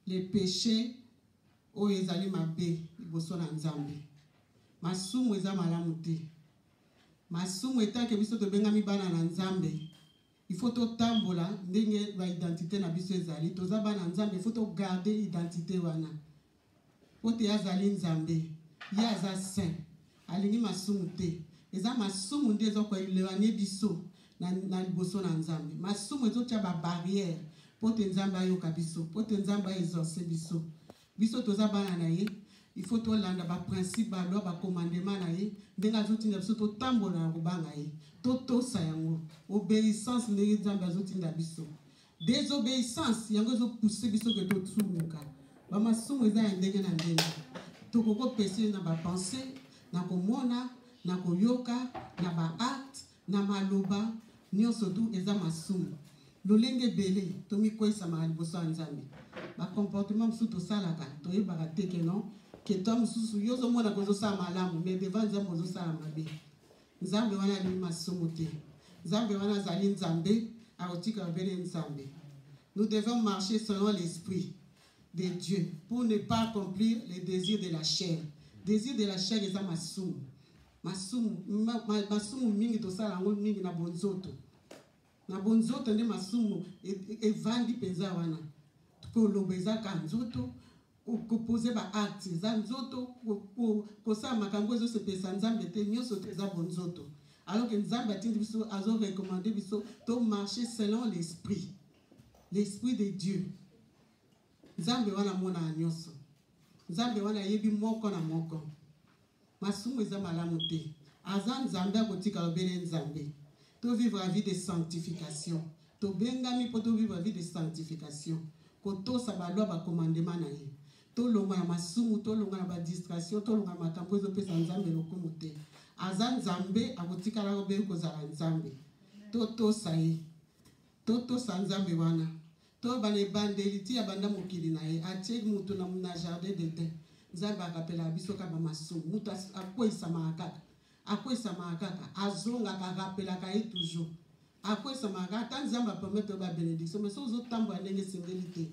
le peche oyo ezali mabe liboso na nzambe masumu eza malamu te masumu etake biso tobengami bana na nzambe ifo totambola ndenge baidentité na biso ezali toza bana nzambe ifo togarde identité wana Mpo te azali Nzambe. Ye aza saint. Alingi masumu te. Eza masumu nde ezo ko eloigner biso na, na liboso na Nzambe. Masumu ezotia ba barrières mpo te Nzambe ayoka biso, mpo te Nzambe a exaucer biso. Biso toza bana na ye, il faut tolanda ba principe, ba loi, ba commandement na ye ndenge azotinda biso totambola na kobanga ye, totosa yango. Obeissance ndenge Nzambe azotinda biso. Desobeissance yango ezo pousser biso ke totsumuka. Ba masumu eza ya ndenge na ndenge. Tokoko pese na ba pensées, na komona, na koyoka, na ba actes, na maloba, nyonso tu eza masumu. lolenge ebele tomikwesamaka liboso ya nzambe bacomportement mosusu tosalaka toyebaka te ke non ketwa mosusu yo ozomona kozosala malamu mais devant nzambe ozosala mabe Nzambe wana alingi masumu te. Nzambe wana azali Nzambe, akotika obele Nzambe. Nous devons marcher selon l'esprit de Dieu pour ne pas accomplir les désirs de la chair. Désir de la chair eza masumu. Masumu, ma, ma, masumu mingi tosala yango mingi na bonzoto. na bonzoto nde masumu evandi mpenza wana koloba eza ka nzoto kopose baacte eza nzoto kosala makambo ezosepelisa nzambe te nyonso te eza bonzoto alors que nzambe atindi biso azorecommande biso tomarche selon l'esprit l'esprit de dieu nzambe wana amonaka nyonso nzambe wana ayebi moko na moko masumu eza malamu te aza nzambe akotikala obele nzambe to vivre la vie de sanctification tobengami mpo to vivre la vie de sanctification kotosa balwa bakomandema na ye tolonga na masumu tolonga na badistraction tolonga na makambo ezopesa nzambe lokumu te aza nzambe akotikala obele kozala nzambe totosa ye Totosa Nzambe wana toyeba na ebandeli ti ya banda mokili na ye atie mutu na, na jardin d'Eden. Nzambe arapelaka biso kaka bamasumu, mutu akweisamaka kaka akweisamaka kaka azongaka arapelaka ye toujours akweisamaka kaka ata Nzambe apermetre yo babenediction mais soki ozotambola ndenge esengeli te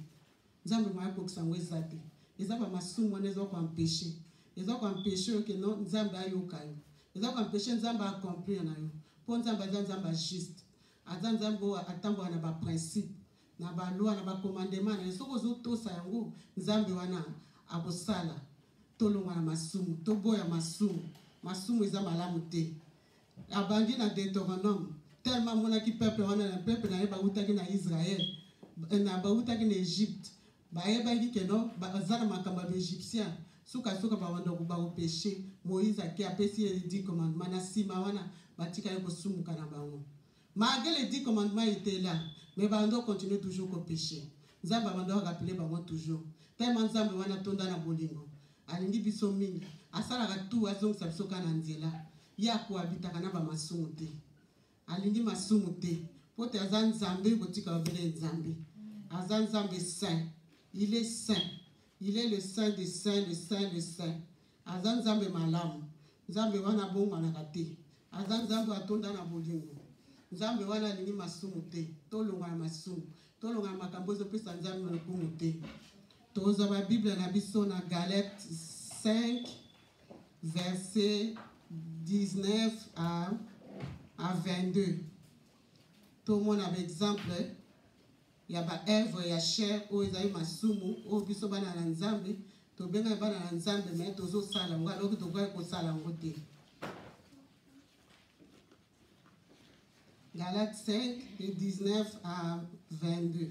Nzambe moya kokisa yango eza te eza bamasumu wana eza koampeche eza koampeche yo ke non Nzambe ayoka yo eza koampeche Nzambe aaccomplir na yo mpo Nzambe aza Nzambe ya juste Aza Nzambe oyo atambola na ba principe, na ba loi, na ba commandement na ye. Soki ozotosa yango, Nzambe wana akosala tolongwa na masumu, toboya masumu. Masumu eza malamu te. Abandi na Deuteronome, tellement amonaki peuple wana, na peuple na ye bautaki na Israël, na bautaki na Egypte. Bayebaki que non baza na makambo ya ba egyptien suka suka babanda ko bako peche Moïse ake apesi ye le dix commandement na sima wana batikali kosumuka na bango malgre le dix commandement ete la mais bando continue toujours ko peche Nzambe abanda ko rappeler bango toujours tellement Nzambe wana tonda na bolingo alingi biso mingi asalaka tout azongisa biso kaka na nzela ye akoabitaka na bamasumu te alingi masumu te mpo te aza nzambe botika babele nzambe aza nzambe saint il est saint il est le saint de saint le saint le saint aza nzambe malamu nzambe wana abongwanaka te aza nzambe atonda na bolingo nzambe wana alingi masumu te tolonga na masumu tolonga na makambo ezopesa nzambe lokumu te tozwa babiblia na biso na galete 5 verset 19 à, à 22 tomona baexemple ya baœuvre ya chair oyo ezali masumu oyo biso bana na nzambe tobengaki bana na nzambe me tozosala yango aloki tokaki kosala yango te galate 5 de 19 à 22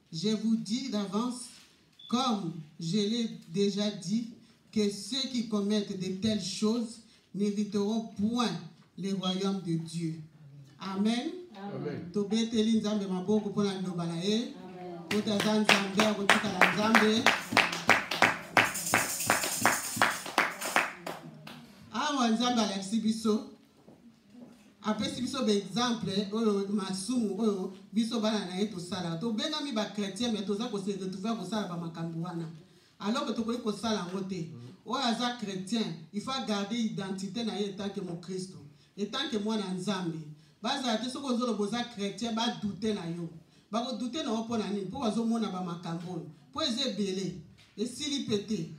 Je vous dis d'avance comme je l'ai dejà dit que ceux qui commettent de telles choses n'hériteront point le royaume de Dieu. Amen. tobeteli nzambe maboko mpo na liloba na ye mpo taza nzambe akotikala nzambe awa nzambe alakisi biso apesi biso baexemple oyo masumu oyo biso bana na ye tosalaka tobengami bachrétien me toza kose retrouve ya kosala bamakambo wana alors que tokoki kosala yango te oyo aza chrétien il faut agarde identité na ye etanke mokristo etanke mwana nzambe bazala te soki ozoloba oza chrétien badoute na yo bakodoute na yo mpo na nini mpo bazomona bamakambo oyo mpo eza ebele esili mpe te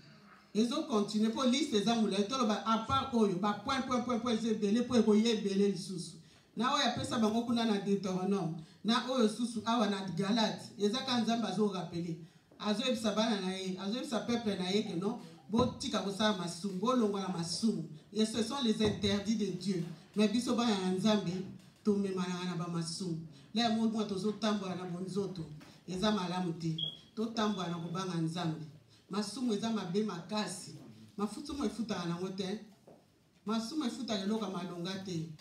ezo continue mpo liste eza molai toloba apart oyo ba point point point point eza ebele mpo ekoya ebele lisusu na oyo apesa bango kuna na deuteronome na oyo susu awa na galate eza kaka nzambe azorapele azoyebisa bana na ye azoyebisa peuple na ye ke non botika kosala masumu bolongola masumu et ce sont les interdits de dieu mais biso bana na nzambe tomemanaka na bamasumu la yango mwa tozotambola na bonzoto eza malamu te totambola na kobanga nzambe masumu eza mabe makasi mafutumu efutaka nango te masumu efutaka eloko ya malonga te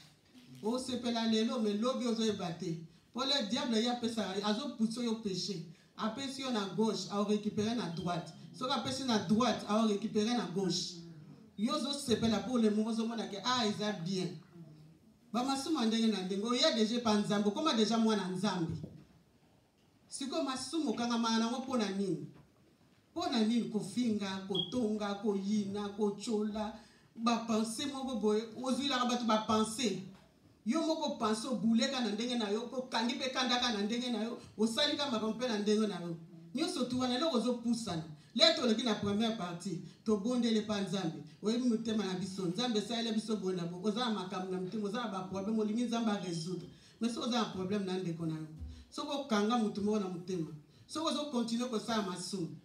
osepela lelo me lobi ozoyeba te mpo le diable ye apesaka azopusa yo peche apesi yo na gauche aorécupere na droite soki apesi na droite aorécupere na gauche yo ozosepela mpo le moko ozomona ke a ah, eza bien bamasumu ya ndenge na ndenge oya deja epa nzambe okoma deja mwana nzambe Sikoyo masumu okangamaka nango mpo na nini? Mpo na nini kofinga, kotonga, koyina, kotyola, bapense moko boye ozwilaka bato bapense yo moko pense obuleka na ndenge na yo okangi mpe kandaka na ndenge na yo osalika makambo mpe na ndenge na yo nyonso tu wana eloko ozopusana le toloki na première partie tobondeli mpa nzambe oyebi motema na biso nzambe esalela biso boye na bo oza na makambo na motema oza na baproblème olingi nzambe aresoudre mais soki oza na problème na ndeko na yo soki okanga motu moko na motema soki ozokontinue kosala masumu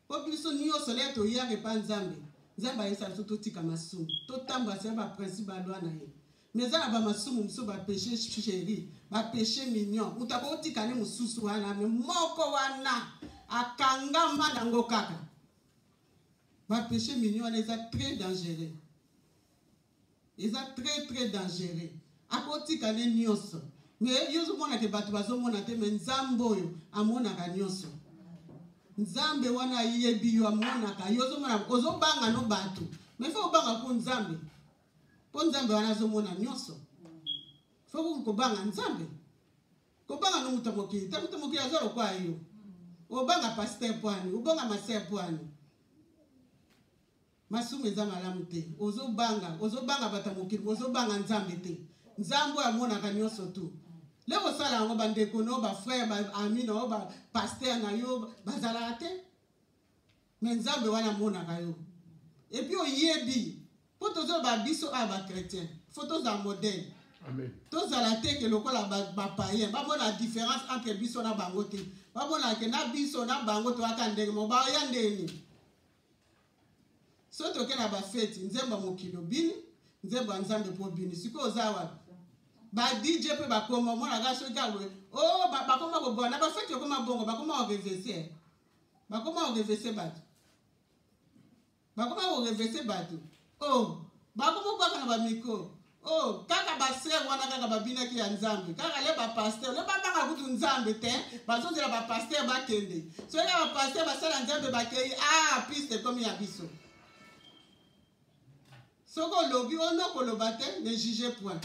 mpo biso nyonso lea toyaka epa nzambe nzambe ayesa biso totika masumu totambola sela baprincipe balwa na ye mais eza na bamasumu mosusu bapeche chéri bapeche mignon moto akotika ne mosusu wana me moko wana akangama nango kaka bapeche mignon wana eza très dangereux eza très très dangereux akotika ne nyonso me yo ozomona te bato bazomona te me nzambe oyo amonaka nyonso nzambe wana ayebi yo amonaka yo ozomona ozobanga no bato me fo obanga mpo nzambe mpo nzambe wana azomona nyonso fo koki kobanga nzambe kobanga no moto mokili ta moto mokili aza lokwaa yo obanga paster mpo ani obanga master mpo ani Masumu eza malamu te. Ozo banga, ozo banga bata mokili, ozo banga Nzambe te. Nzambe amonaka nyoso tu. Leo osala yango ba ndeko no, ba frère, ba ami na yo, ba pasteur na yo bazalaka te. Mais Nzambe wana amonaka yo. Et puis oyebi mpo tozoloba biso awa bachrétien fo tozala modele tozala te ke lokola bapayen bamona différence entre biso na bango te bamonaka ke na biso na bango toyaka ndenge mo baya ndeni soki toke na bafeti nzembo ya mokili obini nzembo ya nzambe mpo obini sikoyo oza wapi ba dj mpe bakoma omonaka soki awe o oh, bakoma koboa na bafeti okoma bongo bakoma orevese bakoma orevese bato bakoma korevese bato Oh, bango moko bakanga ba micro. Oh, kaka ba sœur wana kaka babinaki ya Nzambe. Kaka le ba pasteur, le ba baka kutu Nzambe te, bazozela ba pasteur bakende. Soki ba pasteur basala Nzambe bakei, ah, piste ekomi ya biso. Soki olobi, ono koloba te, ne juge point.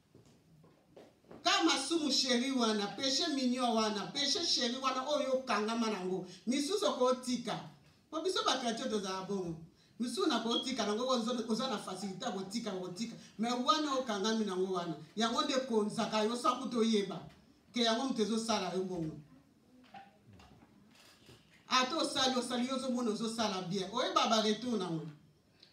ka masumu sheri wana peshe minio wana peshe sheri wana oyo okangama nango misusu okotika po biso bakratio tozala bongo misusu na kotika nango oza na fasilité ya kotika kotika me wana okangami nango wana yango nde ekonzaka yo sa kutu oyeba ke yango moto ezosala yo bongo ata osali osali yo ozomona ozosala bien oyeba baretour nango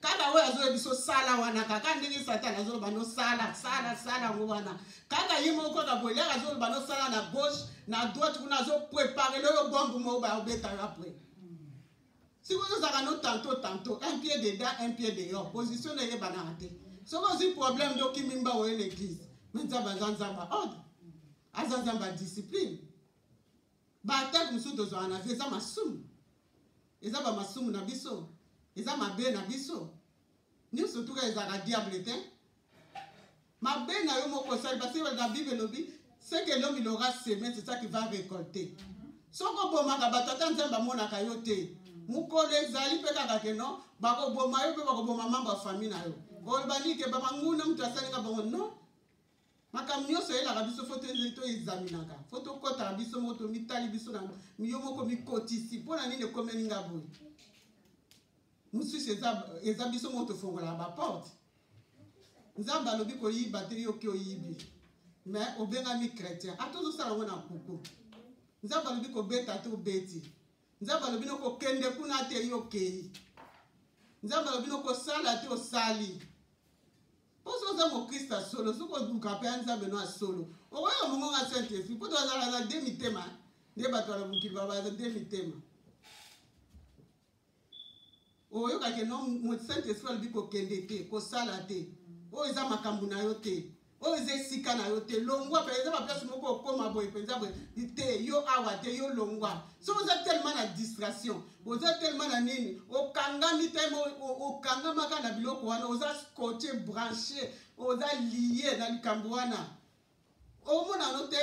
kaka oyo azoya biso sala wana kaka ndenge satana azoloba no sala sala sala yango wana kaka ye moko kaka boye yaka azoloba no sala na gauche na droite kuna azoprepare loyo bombe moko bayobetaka apres soki ozozalaka no tanto tanto un pied dedans un pied dehors position na eyebanaka te soki ozwi problème nde okimi mba oye na église me nzambe aza nzambe ordre aza nzambe ya discipline Ba attaque mosusu tozwaka na vie eza masumu, eza ba masumu na biso, eza mabe na biso nyonso tuka ezalaka diable te mabe na yo moko osali parce que na bible elobi ce que l'homme il aura semé c'est ça qui va récolter soki obomaka bato ata nzambe amonaka yo te mokolo ezali mpe kaka ke non bakoboma yo mpe bakoboma mambo ya famille na yo oloba nike bamanguna moto asalinga bango non makambo nyonso eyelaka biso fo toexaminaka fo tokɔtaka biso moko tomitali biso na yo moko mikotisi mpo na nini ekomeli nga boye mosusu eza biso moko tofongolaka baporte nzambe alobi koyiba te yoki oyibi me obengami chrétien ata ozosala yango na kuku nzambe alobi kobeta te obeti nzambe alobi nokokende kuna te yo okei nzambe alobi nokosala te osali Mpo soki oza mokristo ya solo, soki oluka mpe ya Nzambe no ya solo, okoyeba mongongo ya Saint Esprit. Mpo tozalaka na de mitema, nde bato ya mokili babaza de mitema. Oyoka ke no Saint Esprit alobi kokende te, kosala te. Oyo eza makambo na yo te. oyo eza esika na yo te longwa mpe eza baplace moko okoma boye mpenza boye te yo awa te yo longwa soki oza tellement na distraction boza telema na nini okangami telema okangamaka na biloko wana oza scotche branche oza lie na likambo wana omonano te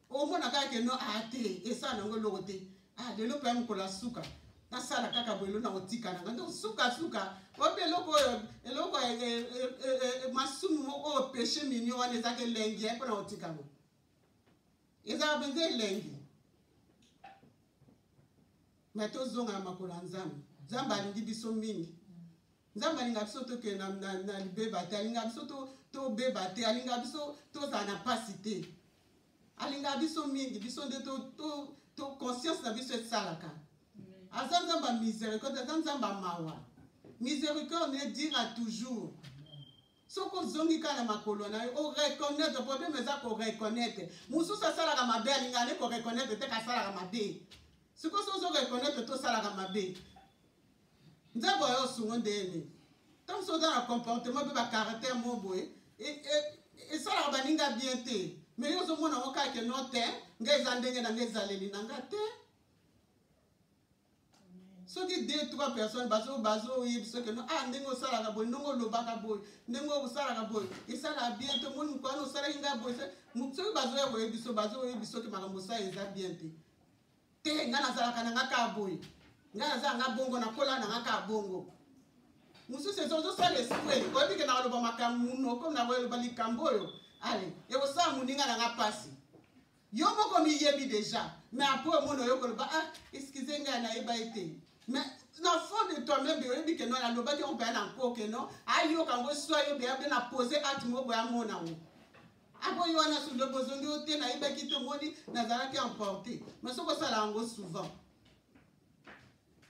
omona kaka keno a ah, te esala nango eloko te a ah, lelo mpe ya mokolo ya suka nasala kaka boyelo na kotika nanga donc sukasuka oyebi eloko oyo eloko eh, eh, eh, masumu moko oyo peche minio wana ezaka elengi ya mpo na kotika ngo ezalaka mpenza elengi me tozonga na makolo ya nzambe nzambe alingi biso mingi nzambe alinga biso tokende na, na, na libeba te alinga biso to, tobeba te alinga biso tozala na mpasi te alinga biso mingi biso nde to, to, to conscience na biso esalaka aza nzambe ya misericorde aza nzambe ya mawa misericorde ne dira toujours soki ozongi kaka na makolo na yo oreconnaitre problème eza koreconnaitre mosusu asalaka mabe alinga ne koreconnaitre te kasalaka mabe sikoyo soki ozoreconnaitre te osalaka mabe nzambe oyo osungo ndene ntango soki oza na comportement mpe bacaractère mo boye e, e, esalaka baninga bien te mais yo ozomona ngo kaka ke no te ngai eza ndenge na ngai ezaleli na ngai te soki deux trois personnes bazo bazoyebisa oke no ah ndenge osalaka boye ndenge olobaka boye ndenge osalaka boye esalaka bien te omoni mokwana osalaki ngai boye soki bazoya koyebisa bazoyebisa oke makambo osala eza bien te te ngai nazalaka na ngai kaka boye ngai nazala ngai bongo nakola na ngai kaka bongo mosusu eza ozosala esprit oyebi ke nakoloba makambo monoko nakoyoloba likambo oyo ale ekosala moninga na ngai mpasi yo moko miyebi deja mais après omona oyo koloba ah excuse ngai nayeba ye te mais na fond de toi même oyebi ke non nalobaki yango boya na nko ke non ayoka yango swa yo boya mpe na pose acte moko boya amona yango apo yo wana sundo bozongi yo te nayebaki te omoni nazalaki emporte mais soki osala yango souvent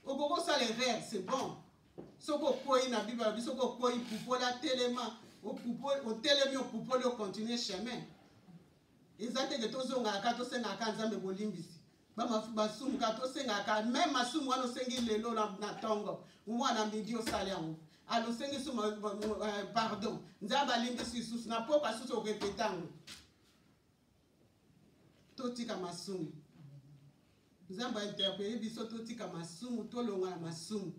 okoki osala erreur c'est bon soki okwei na bible alobi soki okwei pupola telema otelemi opupoli ocontinue chemin eza teke tozongaka kaka tosengaka kaka nzambe bolimbisi basumu kaka tosengaka kaka meme masumu wana osengi lelo na ntongo mwana midi osali yango alo osengi sumu eh, pardon nzambe alimbisi lisusu na poko asusu orepete yango totika masumu nzambe ainterpele biso totika masumu tolonga na masumu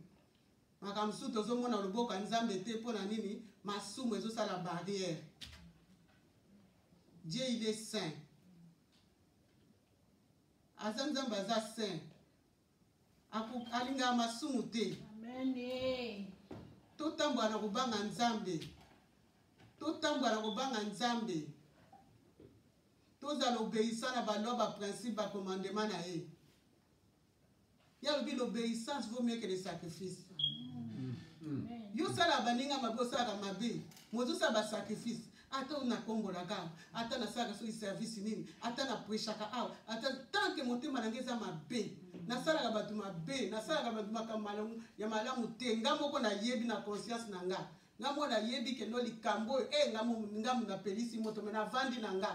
makambo mosusu tozomona loboko ya nzambe te mpo na nini masumu ezosala barriere Dieu il est saint. Aza Nzambe aza saint. Alingaka masumu te. Amen. Eh. Totambola na kobanga Nzambe. Totambola na kobanga Nzambe. Tozala obeyisa na balwa ba principe ba commandement na ye. ye alobi l'obéissance vaut mieux que le sacrifice yo osalaka baninga mabe osalaka mabe mozosala basacrifice ata oyo nakombolaka awa ata nasalaka soki service nini ata napreshaka awa ata tanke motema na ngai eza mabe nasalaka bato mabe nasalaka bato makambo ya malamu te nga moko nayebi na conscience na nga nga mwana ayebi kende oyo likambo oyo e nga ngamu napelisi moto me navandi na nga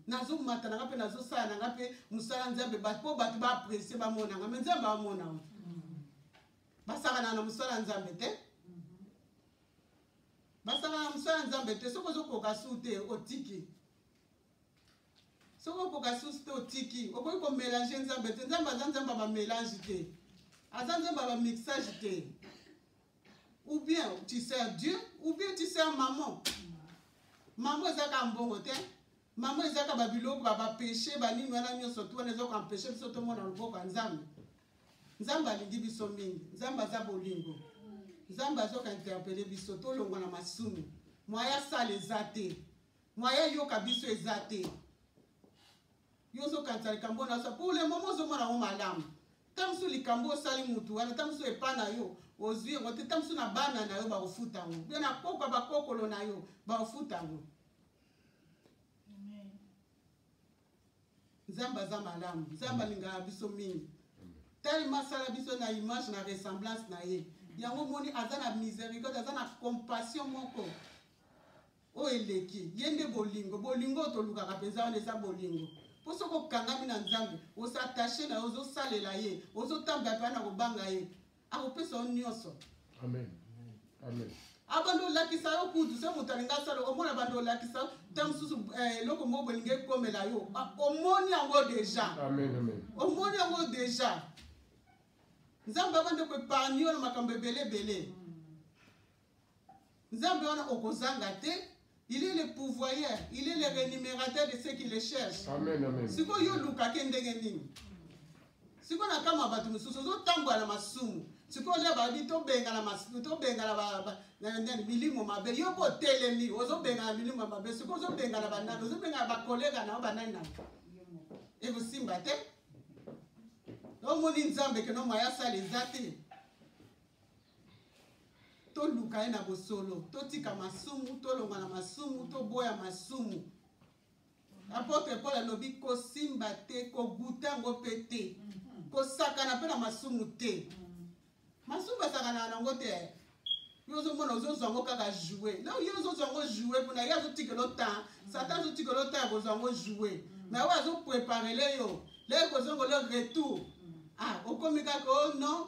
nazomata na nga mpe nazosala na nga mpe mosala nzambe mpo bato baapresie bamona nga me nzambe amona o basakanaka na mosala ya nzambe te basakanaka na mosala ya nzambe te soki ozokoka su te otiki soki okoka susu te otiki okoki komelange nzambe te nzambe aza nzambe ya bamelange te aza nzambe ya bamixage te ou bien tu sers dieu ou bien tu sers maman maman eza kaka mbongo te maman eza kaka babiloko bapeche banini wana nyonso tu wana eza koampeshe biso tomona loboko ya nzambe nzambe alingi biso mingi nzambe aza bolingo nzambe azoka interpele biso tolongwa na masumu mwaya sala eza te mwaya yoka biso eza te yo ozokanisa likambo oyo nasa pour le moment ozomona yango malamu ntango mosusu likambo osali mutu wana ntango mosusu epa na yo ozwi yango te ntango mosusu na bana na yo bakofuta yango mpe na kokwa bakokolo na yo bakofuta yango nzambe aza malamu nzambe alingaka biso mingi telema asala biso na image na ressemblance na ye yango omoni aza na miséricorde aza na compassion moko oyo eleki ye nde bolingo bolingo oyo tolukaka mpenza wana eza bolingo mpo soki okangami na nzambe osatashe na yo ozosalela ye ozotambola mpe na kobanga ye akopesa yo nyonso amen amen abanda ah, olakisa yo kutu se moto alingi asala omona banda olakisa yo ntango mosusu eh, eloko moko bolingi ekomela yo ah, omoni yango deja omoni yango deja nzambe abanda koepargne yo na makambo ebele ebele nzambe wana okozanga te il est le pouvoyeur il est le rémunérateur de ceux qui le cherche sikoyo yo olukake ndenge nini sikoyo na kama bato mosusu ozotambola na masumu sikoyo nde babi tobengana masumu tobengana nani milimo mabe yo mpo otelemi ozobengana milimo mabe sikoyo ozobengana banani ozobengana bakolega na yo banani na ekosimba te omoni nzambe keno mwaya asala eza te toluka ye na bosolo totika masumu tolonga na masumu toboya masumu apotre paul alobi kosimba te koguta yango mpe te kosakana mpe na masumu te masumu basakanaka nango te yo ozomona ozozwa yango kaka joue ye ozozwa yango joue mpona ye azotikela otan satan azotikela otan ya kozwa yango joue na oyo azopreparele yo leye kozongolo retour ah okomi kaka o oh non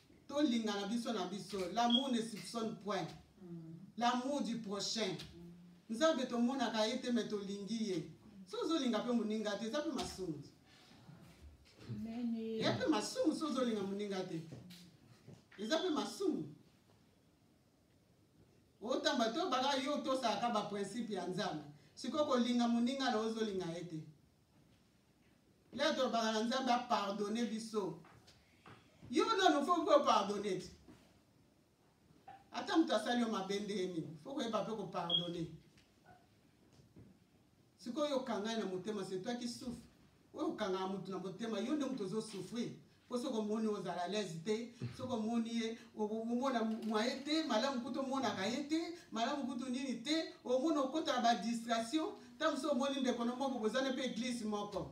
tolingana biso na biso l'amour ne soupçonne point l'amour du prochain nzambe tomonaka ye te me tolingi ye so ozolinga mpe moninga te eza mpe masumu ya mpe masumu so ozolinga moninga te eza mpe masumu otamba to baka yo otosaka baprincipe ya nzambe sikoyo kolinga moninga na ozolinga ye te leo tolobaka na nzambe apardone biso yo nano fo mpe opardone ti ata moto asali yo mabe nde ye nini fo koyeba mpe kopardone sikoyo okangai na motema se toi qui souffre oyo okangaka moto na motema yo nde moto ozosouffrir mpo soki omoni ozala alaise te soki omoni ye omona mwa ye te malamu kutu omonaka ye te malamu kutu nini te omona okota na badistraction ntango mosusu omoni ndeko no moko bozana mpe eglise moko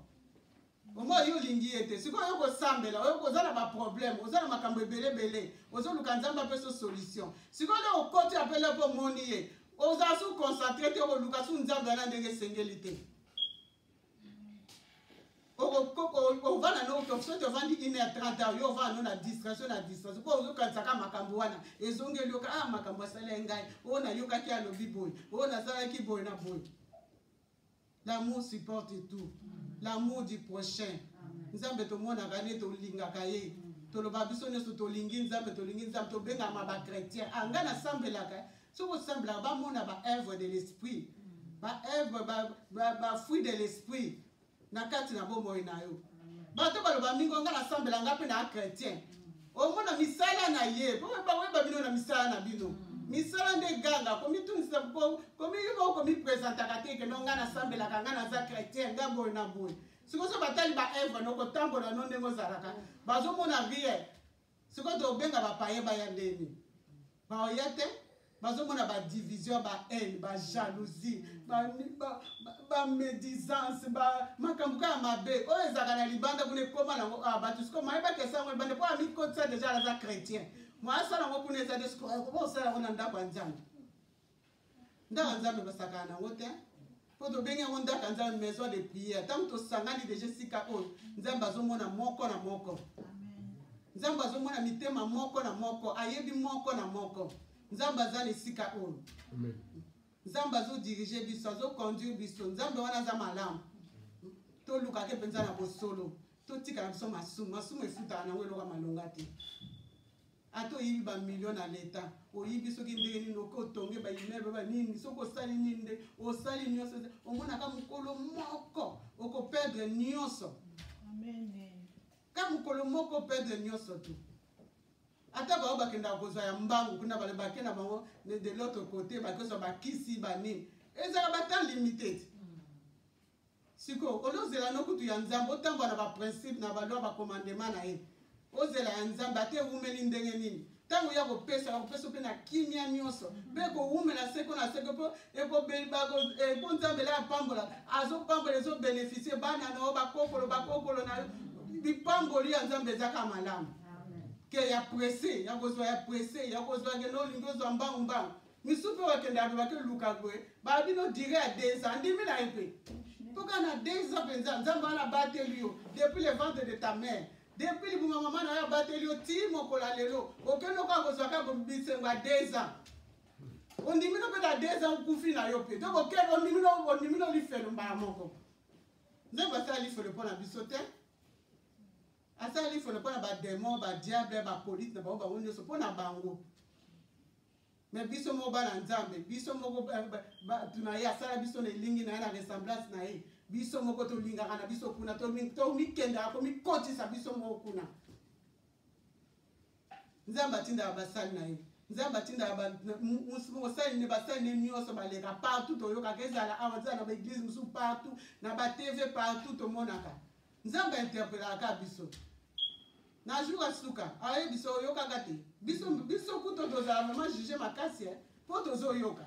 omo yo olingi ye te sikoyo oyo kosambela oyo oza na baproblème oza na makambo ebele ebele ozoluka nzambe apeso solution sikoyo nde okoti apele mpo omoni ye oza su concentre te okoluka su nzambe wana ndenge esengeli te ovanda no soki ovandi une heure 30 heure yo ovanda no na distraction na distraction mpo ozokanisa kaka makambo wana ezongeli yoka a ah, makambo asala ye ngai oyo nayokaki alobi boye oyo nasalaki boye na boye l'amour supporte tout l'amour du prochain nzambe tomonaka nde tolingaka ye toloba biso nyonso tolingi nzambe tolingi nzambe tobengama bachrétien anga ah, nasambelaka soki osamblaka bamona ba œuvre de l'esprit ba œuvre ba fruit de l'esprit na kati na bomoi na yo bato baloba mingi nga nasambela nga mpe na chrétien omona misala na ye mpo bakoyeba bino na misala na bino misala nde ganga komitunisa komiyoka komipresentaka te keno nga nasambelaka nga naza chrétien nga boye na boye sikoso batali baevre nokotambola no ndenge ozalaka bazomona rien sikoyo tobenga bapaye baya ndeni baoya te bazomona badivision bahaine bajalousie bamédisance makambo kaka mabe oyo ezalaka na libanda kuna ekoma nango ah, bato siko maye bakesa yango libanda mpo amikotisa deja aza chrétien moasala yango kuna eza te sikoyo okoba osala yango na ndako ya nzambe ndaka nzambe basakana na yango te mpo tobengi yango ndaka nzambe maison de prière ntango tosangani deja esika oyo nzambe azomona moko na moko nzambe azomona mitema moko na moko ayebi moko na moko nzambe aza na esika oyo nzambe azodirige biso azoconduire biso nzambe wana aza malamu tolukake mpenza na bosolo totikala biso masumu masumu efutaka na yango eloko ya malonga te ata oyibi ba million na leta oyibi soki ndenge nini oke otonge ba immeuble ba nini soki osali nini nde osali nyonso omonaka mokolo moko okoperdre nyonso ka mokolo moko operdre nyonso tu ata bango bakendaka kozwa ya mbangu kuna bale bake na bango de l'autre côté bakozwa bakisi banini ezalaka batan limite sikoyo olozela no kutu ya nzambe otambwa na baprincipe na balwa bakomandema na ye ozela ya nzambe ata ewumeli ndenge nini ntango ya kopesa bakopesa mpe na kimia nyonso mpe kowumela seko na seko mpo mpo nzambe la apambola azopambola ezobenefisie bana na yo bakokolo bakokolo na yo lipamboli ya nzambe ezaka malamu ke ya presse ya kozwa ya presse ya kozwa kende olingi ozwa mbangu mbangu misupe wakende alobaki luka boye baa bino dire ya deza andimi na ye mpe mpo kaka na deza mpenza nzambe wana abateli yo depuis le ventre de ta mère depuis libuma mama na yo abateli yo ti mokola lelo okende okoka kozwa kaka bisengo ya deza ondimi no mpe na deza okufi na yo mpe donc okende ondimi no ondimi no lifelo mbala moko nzambe asala lifelo mpo na biso te asala lifelo mpo na bademon badiable bapolite na bango bango nyonso mpo na bango me biso moko bana nzambe biso moko bato na ye asala biso na elingi na ye na ressemblance na ye biso moko tolingaka na biso kuna tomikendaka komikotisa biso moko kuna nzambe atindaka basali na ye nzambe atindaka mosali ne basali ne nyonso baleka partout toyokaka ezala awa ezala na baeglise mosusu partout na batv partout tomonaka nzambe interpelaka kaka biso na jour ya suka aye biso oyokaka te biso biso kuto tozala mama juge makasi mpo tozoyoka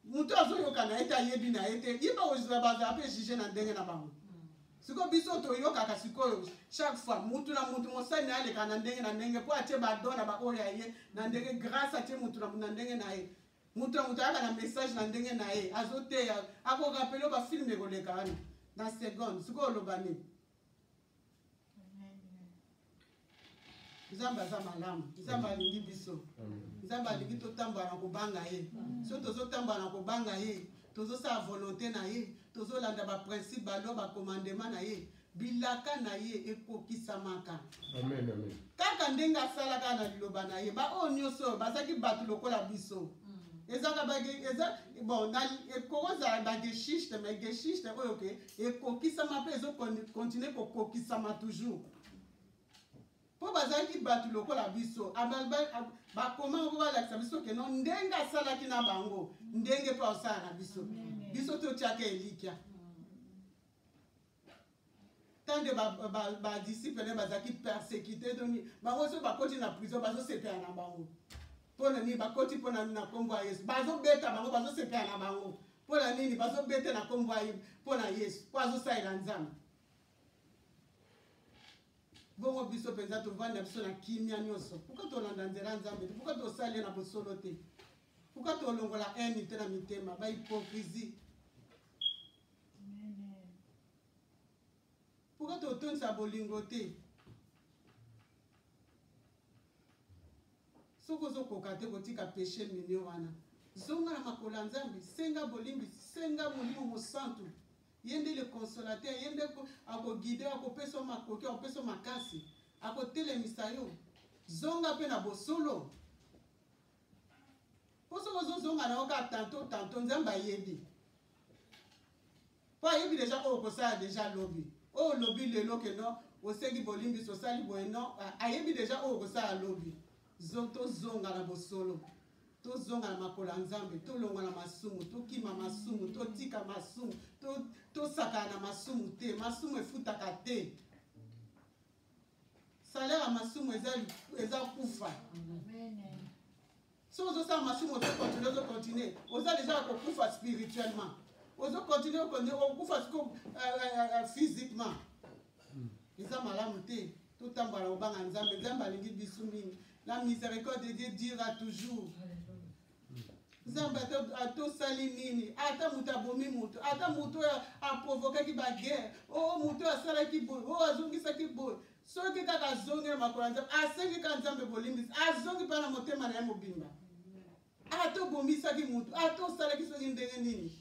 moto azoyoka na ye te ayebi na ye te ye bakozwa bazala mpe juge na ndenge na bango sikoyo biso toyokaka sikoyo chaque fois mutu na mutu mosani aleka na ndenge na ndenge mpo atie badona baoyo ya ye na ndenge grâce atie mutu na mutu na ndenge na ye moto na moto ayaka na message na ndenge na ye azoteya akorapele bafilme ekoleka wana na seconde sikoyo oloba nini nzambe aza malamu nzambe alingi biso nzambe alingi totambola na kobanga ye so tozotambola na kobanga ye tozosala volonté na ye tozolanda baprincipe balo bakomandema na ye bilaka na ye ekokisamaka amen, amen. kaka ndenge asalaka na liloba na ye baoyo nyonso oyo bazalaki bato lokola biso mm. ezaka eza bon ekozala bageshiste ma geshiste oyo ke ekokisama mpe ezokontinue kokokisama toujours mpo bazalaki bato lokola biso bakoma mpo balakisa biso keno ndenge asalaki na bango ndenge mpe asala na biso biso totyaka elikya mm. tant que badisciple ba, ba, na ye bazalaki persécuté to nini bango soki bakoti na prison bazosepela na bango mpo na nini bakoti mpo na nkombo ya yesu bazobeta bango bazosepela na bango mpo na nini bazobeta na nkombo ya mpo na yesu mpo azosalela nzambe bongo biso mpenza tovanda biso na kimia nyonso pourkui tolanda nzela ya nzambe te pourkui tosali na bosolo te pourkui tolongola haine te na mitema bahypocrisie Pourquoi totondisa bolingo te? soki ozokoka te kotika peshe minio wana zonga na makolo ya nzambe senga bolimbisi senga molimo mosantu ye nde le consolateur ye nde akogide akopesa makoki akopesa makasi akotelemisa yo zonga mpe na bosolo mpo soki ozozonga na yo kaka tanto tanto nzambe ayebi mpo ayebi deja oyo okosala deja lobi oyo olobi lelo ke no osengi bolimbisi osali boye no ayebi deja oyo okosala lobi tozonga na bosolo tozonga na makolo ya nzambe tolongwa na masumu tokima masumu totika masumu tosakana na masumu te masumu efutaka te salaire ya masumu eza, eza kufa soki ozosala masumu ozokontinue ozokontinue oza deja ya kokufa spirituellement ozokontinue okufa siko euh, euh, euh, physiquement hmm. eza malamu te totambola kobanga nzambe nzambe alingi biso mingi la miséricorde de dieu dira toujours nzambe atosali nini ata moto abomi moto ata moto oyo aprovokaki baguerre o oh, moto oyo asalaki boye oyo oh, azongisaki boye soki kaka azongi na makolo ya nzambe asengi kaka nzambe bolimbisi azongi mpa na motema na ye mobimba ata obomisaki moto ata osalaki soki ndenge nini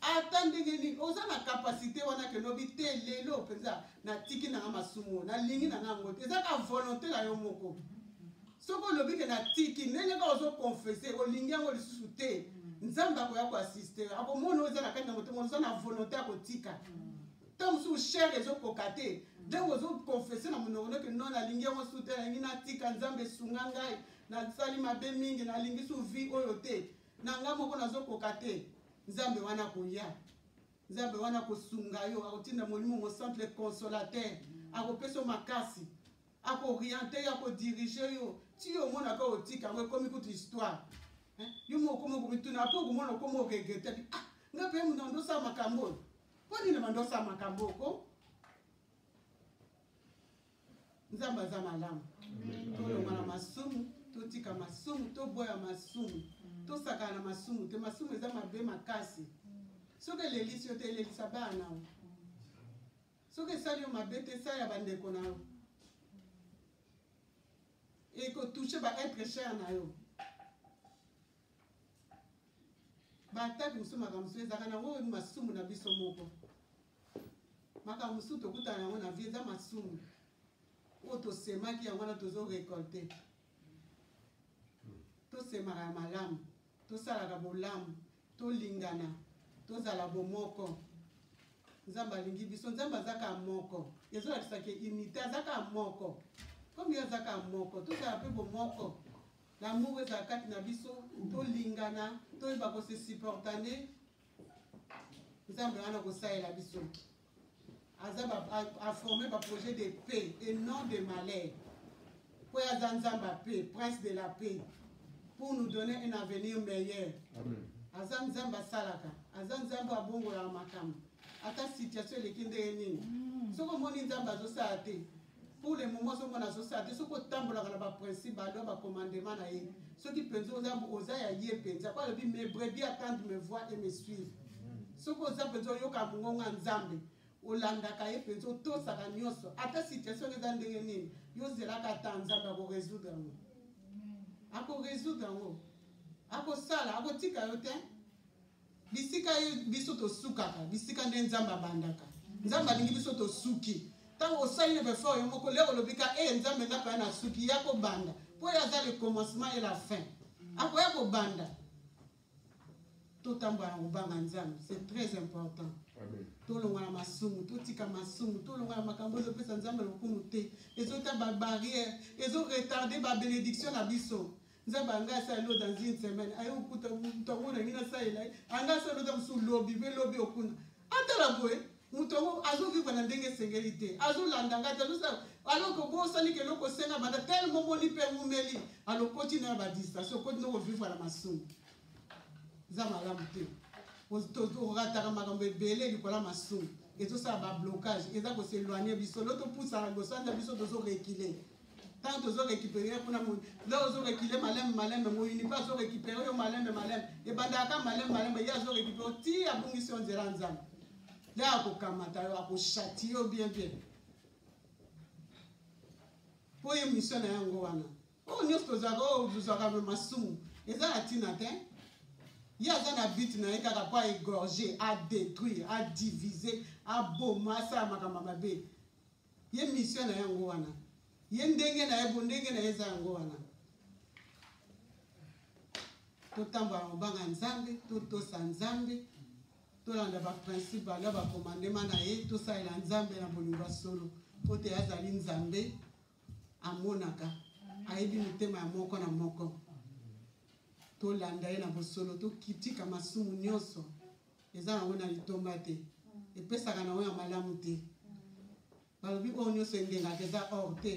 ata ndenge nini oza na kapasite wana ke lobi te lelo mpenza natiki nanga masumu nalingi nanga yango te eza ka volonte na yo moko soki olobi ke natiki ndenge kaka ozokonfese olingi yango lisusu te nzambe akoya koasiste akomona oza na kati na motema oza na volonte ya kotika ntango mosusu shere ezokoka te ndenge ozokonfese na monoko noke no nalingi yango susu te nalingi natika nzambe esunga ngai nasali mabe mingi nalingi su vie oyo te na nga moko nazokoka te nzambe wana akoya nzambe wana akosunga yo akotinda molimo mosantu le consolateur akopesa yo makasi akoriente yo akodirige yo ti yo omonaka otika yango ekomi kutu histoire yo moko okomi okomituna mpo okomona okomi oregrete ti ah nga mpe moto andosala makambo oyo mpo nini bandosala makambo oko nzambe aza malamu tolonga na masumu totika masumu toboya masumu tosakana na masumu te masumu eza mabe makasi soki elelisi yo te elelisa bana na yo soki esali yo mabe te esali ya bandeko na yo ekotouche ba être cher na yo baatake mosusu makambo mosusu ezalaka na oyo masumu na biso moko makambo mosusu tokutana yango na vie eza masumu oyo tosemaki yango wana tozo récolte tosemaka ya malamu tosalaka bolamu tolingana tozala bomoko nzambe alingi biso nzambe aza kaka moko ezolakisa ke unité aza kaka moko komi aza kaka moko tozala mpe bomoko lamour ezala kati na biso tolingana toyeba kose supportane nzambe wana kosalela biso aza aforme baprojet de paix et non de malheur mpo ye aza nzambe ya paix prince de la paix pour nous donner un avenir meilleur aza nzambe asalaka aza nzambe abongolaka makambo ata situation eleki ndenge nini mm. soki omoni nzambe azosala te pour le moment ozomona azosala soki otambolaka na baprincipe balo bacommandement na ye soki mpenza oza ya ye mpenza po alobi mes brebis attendre me voir et me suivre soki oza mpenza oyoka mongongo ya nzambe olandaka ye mpenza otosaka nyonso ata situation eza ndenge nini yo ozelaka ata nzambe akoresoudre yango akoresoudre yango akosala akotika yo te bisika ye biso tosukaka bisika nde nzambe abandaka nzambe alingi biso tosuki ntango osali na befort yo moko leo olobi ka e nzambe nga paya nasuki ya kobanda mpo ye aza le commencement et la fin akoya kobanda totambola na kobanga nzambe c'est très important tolonga na masumu totika masumu tolonga na makambo ezopesa nzambe lokumu te ezota babarrière ezoretarde babenediction na biso nzambe anga asala lo dans une semaine aye okuta moto yango nangi nasalela ye anga asala lota mosusu lobi mpe lobi okuna atala boye moto yango azovivre na ndenge esengeli te azolanda ngai te azosala aloko bosali ke eloko osenga banda telemo omoni mpe wumeli alokoti na ya badistraction okoti noko vivre na masumu eza malamu te orataka makambo ebele likolo ya masumu ezosala bablocage eza koseloigne biso lo topusaka liboso anda biso tozorekile ntango tozo récupérer kuna moyi leo ozo récule malembe malembe moyini mpe azo récupérer yo malembe malembe ebandaka kaka malembe malembe ye azo récupérer ti abungisi yo nzela nzambe nde akokamata yo akoshati yo bien bien mpo ye mission na yango wana oyo nyonso tozwaka oyo tozwaka me masumu eza na ntina te ye aza na but na ye kaka mpo aégorge adétruire adivise aboma asala makambo mabe ye mission na yango wana ye ndenge na ye bondenge na ye eza yango wana totambola mobanga nzambe totosa nzambe tolanda baprincipe banda bakomandema na ye tosalela nzambe na bolingo solo mpo te azali nzambe amonaka ayebi mitema ya moko na moko tolanda ye na bosolo tokitika masumu nyonso eza yango na litomba te epesaka na yango ya malamu te balobi oyo nyonso endengaka eza or te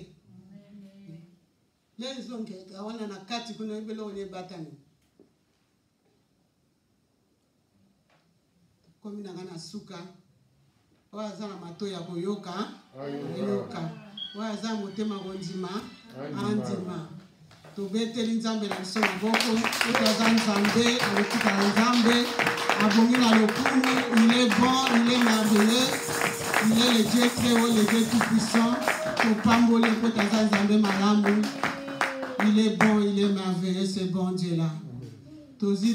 lelo ezongeka wana na kati kuna oyebi eloko nde ebatami komi na ngai na suka oyo aza na mato ya koyoka ayoka oyo aza na motema kondima andima tobeteli nzambe na biso maboko soki aza nzambe akotikala nzambe abongi na lokumu il est bon il est merveilleux il est le dieu très haut le dieu tout puissant topamboli mpo taza nzambe malamu il est bon il est merveilleux ce bon dieu là tozi